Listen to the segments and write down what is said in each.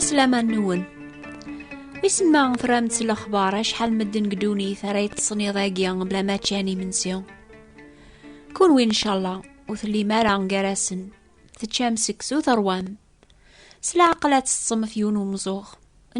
Aslaman-nwen. Wissen ma tramt s lexbar acḥal medden deg ddunit ara yeṭṭsen iḍ-agi bla ma ččan imensi. Kunwi ncalla ur tellim ara gar-asen. Teččam seksu terwam. S leɛqel ad teṭṭsem ɣef yiwen umzuɣ.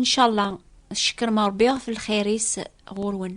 Ncalla tcekkrem Ṛebbi ɣef lxir-is ɣur-wen.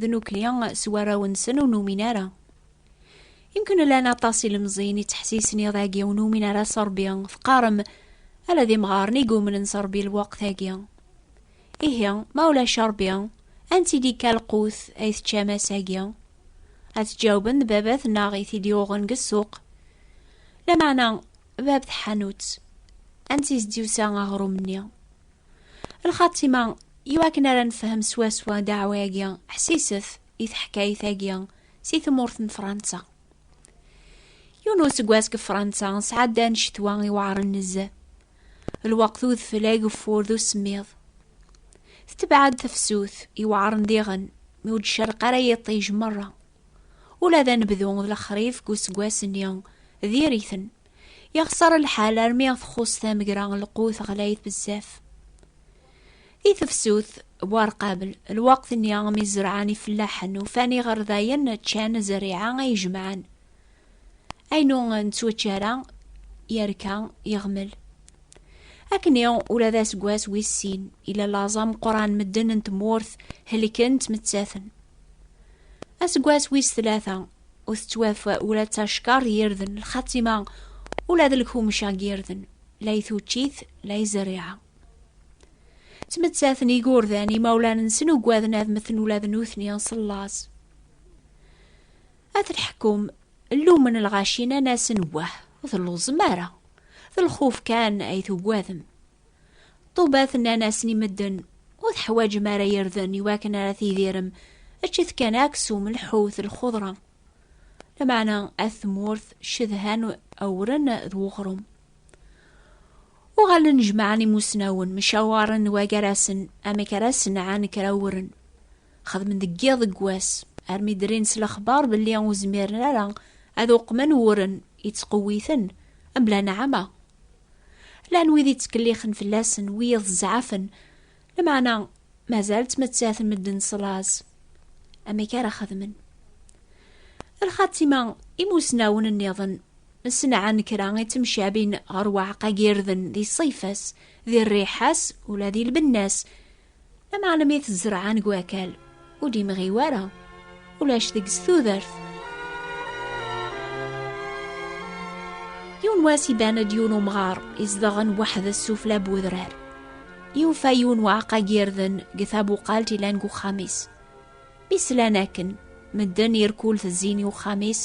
d nukni s warraw-nsen ur numin ara. Imken llan aṭas ilemẓiyen ittḥessisen iḍ-agi ur numin ara s Rebbi, teqqarem ala d imɣaren i yumnen s Rebbi lweqt-agi. Ihi, ma ulac Rebbi, anti d-ikka lqut ay teččam ass-agi? Ad tjawben d baba-tneɣ i t-id-yuɣen deg ssuq. Lameɛna, bab tḥanut, ansi s-d-yusa aɣrum-nni? Lxatima, iwakken ara nefhem swaswa ddeɛwa-agi, ḥsiset i teḥkayt-agi si tmurt n Fransa. Yiwen n useggas deg Fransa, sɛeddan ccetwa iweɛren nezzeh. Lweqt udfel ageffur d usemmiḍ. Tetbeɛ-d tefsut iweɛren diɣen, mi ur d-cerreq ara yiṭij merra. Ula d anebdu d lexrif deg useggas-nni diri-ten. Yexṣer lḥal armi txuṣ tamegra lqut ɣlayet bezzaf. Di tefsut, buarqabel, lwaqt-nni mi zerɛen ifellaḥen ufan iɣerdayen ččan zerriɛa ay jemɛen. Ayen ur nettwačči ara yerka yeɣmel. Akken ula d aseggas wis sin, ila laẓ ameqqran medden n tmurt helken ttmettaten. Aseggas wis tlata, ur tettwaf ula d tacekkar d yirden lxatima ula d lkumec ag yirden la i tuččit la i zerriɛa ttmettaten igurdan imawlan-nsen ugaden ad meten ula d nutni s laẓ ad lḥekum llumen lɣaci nan-asen wah ur telluẓem ara d lxuf kan ay tugadem Ṭubat nnan-asen i medden, ur teḥwaǧem ara irden i wakken ara tidirem, eǧǧet kan aksum, lḥut, lxudra. Lameɛna at tmurt cedhan awren d weɣrum. Uɣalen jemɛen imusnawen, mcawaren wagar-asen amek ara senɛen kra awren. Xedmen deg yiḍ deg wass, armi drin s lexbar belli ur zmiren ara ad uqmen wuren yettqewwiten, mebla nneɛma, Llan wid yettkellixen fell-asen, wiyiḍ zzɛafen, lameɛna mazal ttmettaten medden s laẓ. Amek ara xedmen? Lxatima, imusnawen nniḍen ssenɛan kra i temcabin ɣer uɛeqqa n yirden di ṣṣayfa-s, di rriḥa-s, ula di lbenna-s, Lameɛna i t-zerɛen deg wakal, ur d-imɣi wara, ulac deg-s tudert. Yiwen wass iban-d yiwen umɣar izedɣen weḥd-s sufla n wedrar. Yufa yiwen waɛeqqa n yirden deg tabuqalt ilan deg uxxam-is. Mi slan akken, medden irkul tezzin i uxxam-is,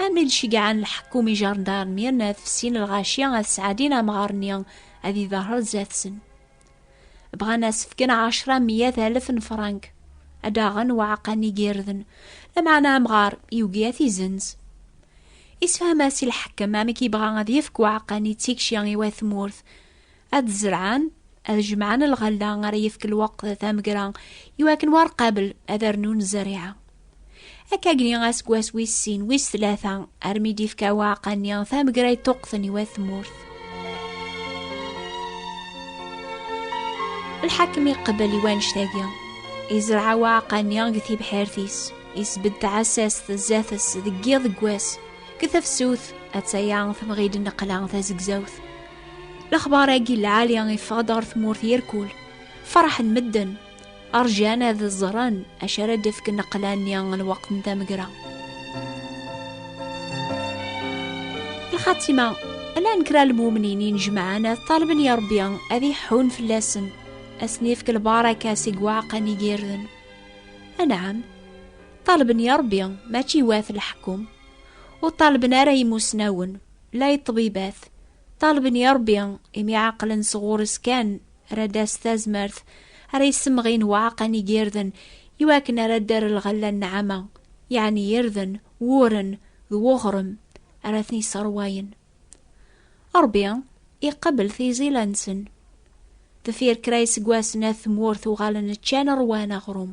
armi d-ceggɛen lḥekkum ijarndaren yerna ad fessin lɣaci ad sɛedin amɣar-nni ad iderrer zdat-sen. bɣan asefken ɛecra miyat alef n frank ad aɣen waɛqan igirden lameɛna amɣar yugi ad t-izenz isfaham-as i lḥekem amek yebɣa ad yefk waɛqan i tikci i wat tmurt ad zerɛen ad jemɛen lɣella ara yefk lweqt tamegra iwakken war qabel ad rnun zerriɛa akkagni aseggas wis sin wis tlata armi d-ifka waɛqa-nni tamegrayt tuqqten i wat tmurt lḥakem iqbel i wannect-agi izreɛ waɛqa-nni deg tibḥirt-is isbedd tɛessast zdat-s deg yiḍ deg wass deg tefsut attaya temɣi-d nneqla tazegzawt lexbar-agi lɛali iffeɣ-d ɣer tmurt yirkul ferḥen medden Rjan ad ẓren acu ara d-ifk nneqla-nni n lweqt n tamegra. Lxatima, llan kra lmumnin inejmaɛen ad ṭalben ya Rebbi ad iḥun fell-asen, ad sen-ifk lbaraka seg waɛqan igirden. Anɛam, ṭalben ya Rebbi mačči wat leḥkum, ur ṭalben ara imusnawen, la iṭṭbibat, ṭalben ya Rebbi imi ɛaqlen sɣur-s kan Rad-as tazmert ara yessemɣin waɛqan i yirden i wakken ara d-ar lɣella n nɛama, yeɛni irden, wuren, d wuɣrem ara ten-yesserwayen. Ṛebbi iqebbel tiẓila-nsen. Deffir kra iseggasen at tmurt uɣalen ččan ṛwan aɣrum.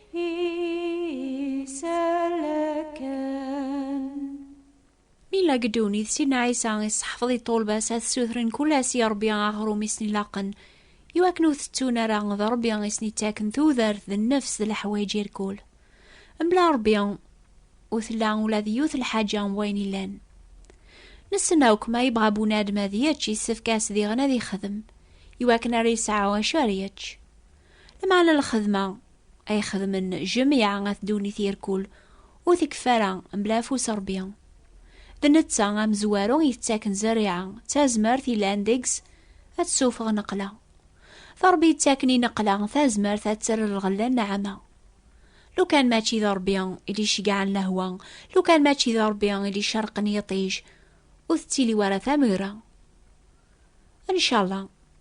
la geddunit sidna Ɛisa iseḥfeḍ i ṭṭulba-s ad sutren kul ass i Rebbi aɣrum i sen-ilaqen i wakken ur tettun ara d Rebbi i sen-ittaken tudert d nnefs d leḥwayeǧ irkul mebla Rebbi ur tella ula d yiwet lḥaǧa n wayen illan nessen akk ma yebɣa bunadem ad yečč yessefk-as diɣen ad ixdem i wakken ara yesɛu acu ara yečč Lameɛna n lxedma ay xedmen Jamiɛa At Ddunit Irkul ur tekfi ara mebla afus Rebbi. D netta amezwaru yettaken zerriɛa d tazmert yellan deg-s ad tessuffeɣ nneqla. D Rebbi yettaken i nneqla tazmert ad terr lɣella nneɛma. Lukan mačči d Rebbi i d-iceggɛen lehwa, lukan mačči d Rebbi i d-icerqen yiṭij, ur tettili wara tamegra. Ncallah.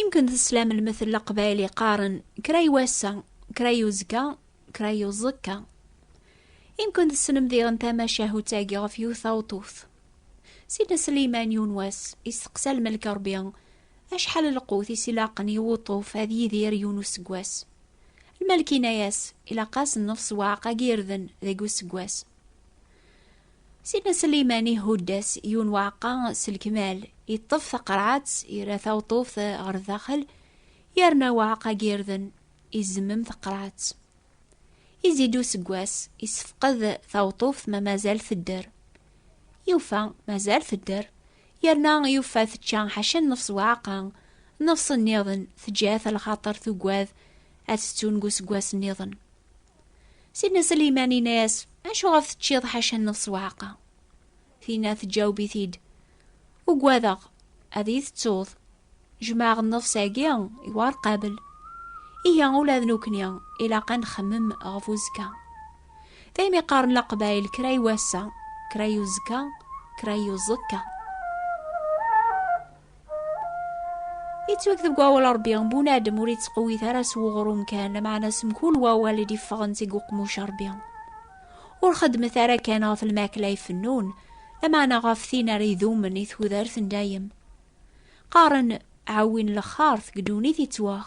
Imken teslam lmettel aqbayli qqaren kra i wass-a, kra i uzekka, kra i uẓekka. Imken tessnem diɣen tamacahut-agi ɣef yiwet taweṭṭuft. Sidna Sliman yiwen wass isteqsa lmelk Rebbi acḥal lqut i s-ilaqen i wuṭṭuf ad yidir yiwen useggas. Lmelk inna-yas ilaq-as nnefs waɛeq agi irden deg useggas. Sidna Sliman ihudd-as yiwen waɛeqqa s lekmal, yeṭṭef taqerɛet, yerra tawṭuft ɣer daxel, yerna waɛeqqa n yirden, izemmem taqerɛet. Izid useggas, isefqed tawṭuft ma mazal tedder. Yufa mazal tedder, yerna yufa tečča ḥaca nnefs waɛeqqa, nnefs nniḍen teǧǧa-t lxaṭer tugad ad tettun deg useggas nniḍen. Sidna Sliman inna-yas, Acuɣef teččiḍ ḥaca n lsewɛeqa? Tinna teǧǧaweb-it-id, Ugwadeɣ ad iyi-tettuḍ. Jmeɛ nnefs-agi i war qabel. Ihi ula d nekkni ilaq ad nxemmem ɣef uzekka. Daymi qqaren Leqbayel kra i wass-a, kra i uzekka, kra i uẓekka. yettwakteb deg wawal rebbi bun adem ur yettqewwit ara s weɣrum kan lameɛna s mkul wawal i d-iffɣen seg uqmuc rebbi ur xeddmet ara kan ɣef lmakla ifennun lameɛna ɣef tin ara idumen i tudert n dayem qqaren ɛawin lexxart deg ddunit yettwax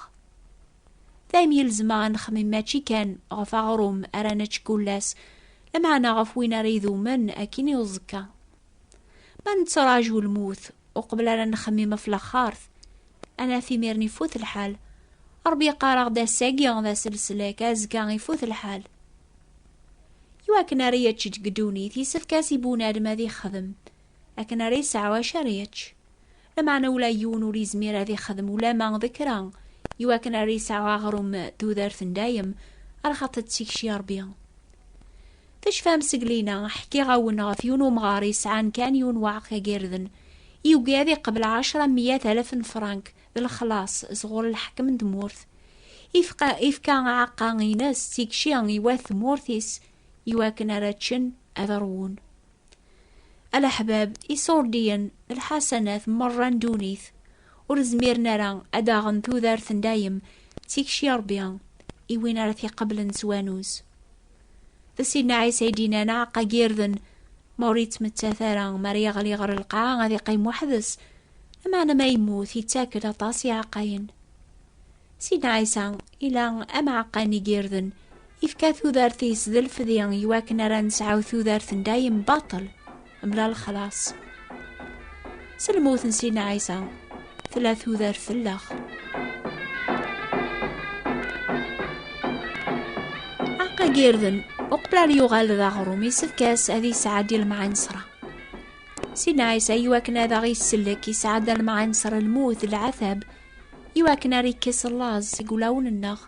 dayem yelzem ad nexmim mačči kan ɣef aɣrum ara nečč kullas lameɛna ɣef win ara idumen akin i uẓekka Ma nettraǧu lmut uqbel ara nexmim ɣef laxxart, anaf imiren ifut lḥal. Ṛebbi yeqqar-aɣ-d ass-agi d ass leslak, azekka ifut lḥal. I wakken ara yečč deg ddunit, yessefk-as i bunadem ad ixdem, akken ara yesɛu acu ara yečč. Lameɛna ula yiwen ur yezmir ad ixdem ulama d kra, iwakken ar yesɛu aɣrum d tudert n dayem, arxaṭ d tikci a Ṛebbi. Tecfam seg lina, ḥkiɣ-awen ɣef yiwen umɣar yesɛan kan yiwen waɛeq agirden, yugi ad iqbel ɛecra miyat alaf n frank d lexlaṣ sɣur lḥekem n tmurt, ifqa, ifka aɛeqqa ines d tikci i wat tmurt-is, iwakken ara ččen, ad ṛwun. Alaḥbab, isurdiyen, lḥasanat, merra n ddunit, ur zmiren ara ad aɣen tudert n dayem, d tikci n Ṛebbi i win ara t-iqeblen s wanuz. D Sidna Ɛisa i d-yennan aɛeqqa n yirden, ma ur yettmettat ara, mi ara yeɣli ɣer lqaɛa ad iqqim weḥd-s, lameɛna ma yemmut, yettak-d aṭas n yiɛeqqayen. Sidi Ɛisa ila ameɛqan n yirden, yefka tudert-is d lefdi i wakken ara nesɛu tudert n dayem baṭel, mla lexlaṣ. S lmut n Sidi Ɛisa, tella tudert tellex. Aqa n yirden, uqbel ara yuɣal d aɣrum, yessefk-as ad yesɛeddi lemɛanesra. Sidi Ɛisa i wakken ad aɣ-isellek, yesɛedda lemɛanesra lmut, lɛatab, i wakken ara ikkes laẓ seg wulawen-nneɣ,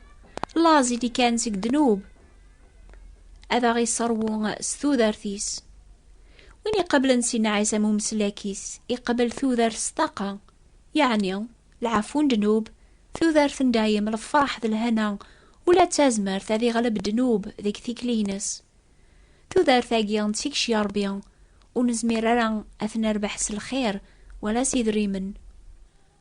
laẓ i d-ikkan seg ddnub, ad aɣ-iṣerwu s tudert-is. Win iqeblen Sidna Ɛisa am umeslak-is, iqebel tudert s ṭaqa, yeɛni lɛafu n ddnub, tudert n dayem, lefraḥ d lhana, ula d tazmert ad iɣleb ddnub deg tikli-ines. Tudert-agi n tikci a Ṛebbi, ur nezmir ara ad t-nerbeḥ s lxir wala s idrimen.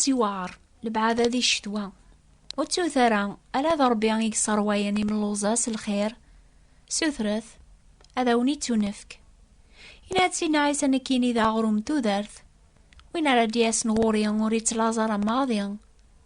aṭas yewɛer lebɛada di ccetwa ur ttut ara ala d rebbi i yesserwayen imelluẓa s lxir sutret ad awen-ittunefk yenna-d sin ɛisa nekkini d aɣrum tudert win ara d-yasen ɣur-i ur ittlaẓ ara maḍi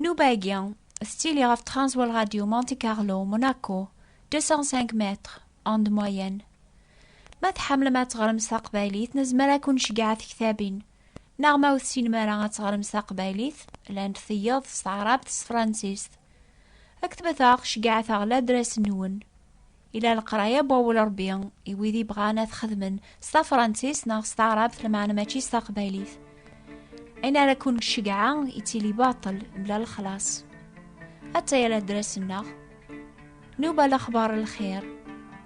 Nubagi, tettili ɣef Transworld Radio Monte Carlo, Monaco, 205 mètres, onde moyenne. Ma tḥemmlem ad teɣrem s taqbaylit, nezmer ad kun-ceggeɛ tektabin. Neɣ ma ur tessinem ara ad teɣrem s taqbaylit, llant tiyeḍ s taɛrabt s tefransist. Ktbet-aɣ, ceggɛet-aɣ ladras-nwen. Ila leqraya n wawal Ṛebbi i wid ibɣan ad xedmen s tafṛansist neɣ s taɛṛabt lmeɛna mačči s taqbaylit. Ayen ara ken-ceggɛeɣ yettili baṭel mebla lexlaṣ. Atta yal adras-nneɣ. Nuba lexbar lxir.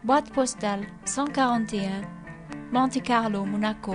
Boîte postale 141 Monte Carlo, Monaco.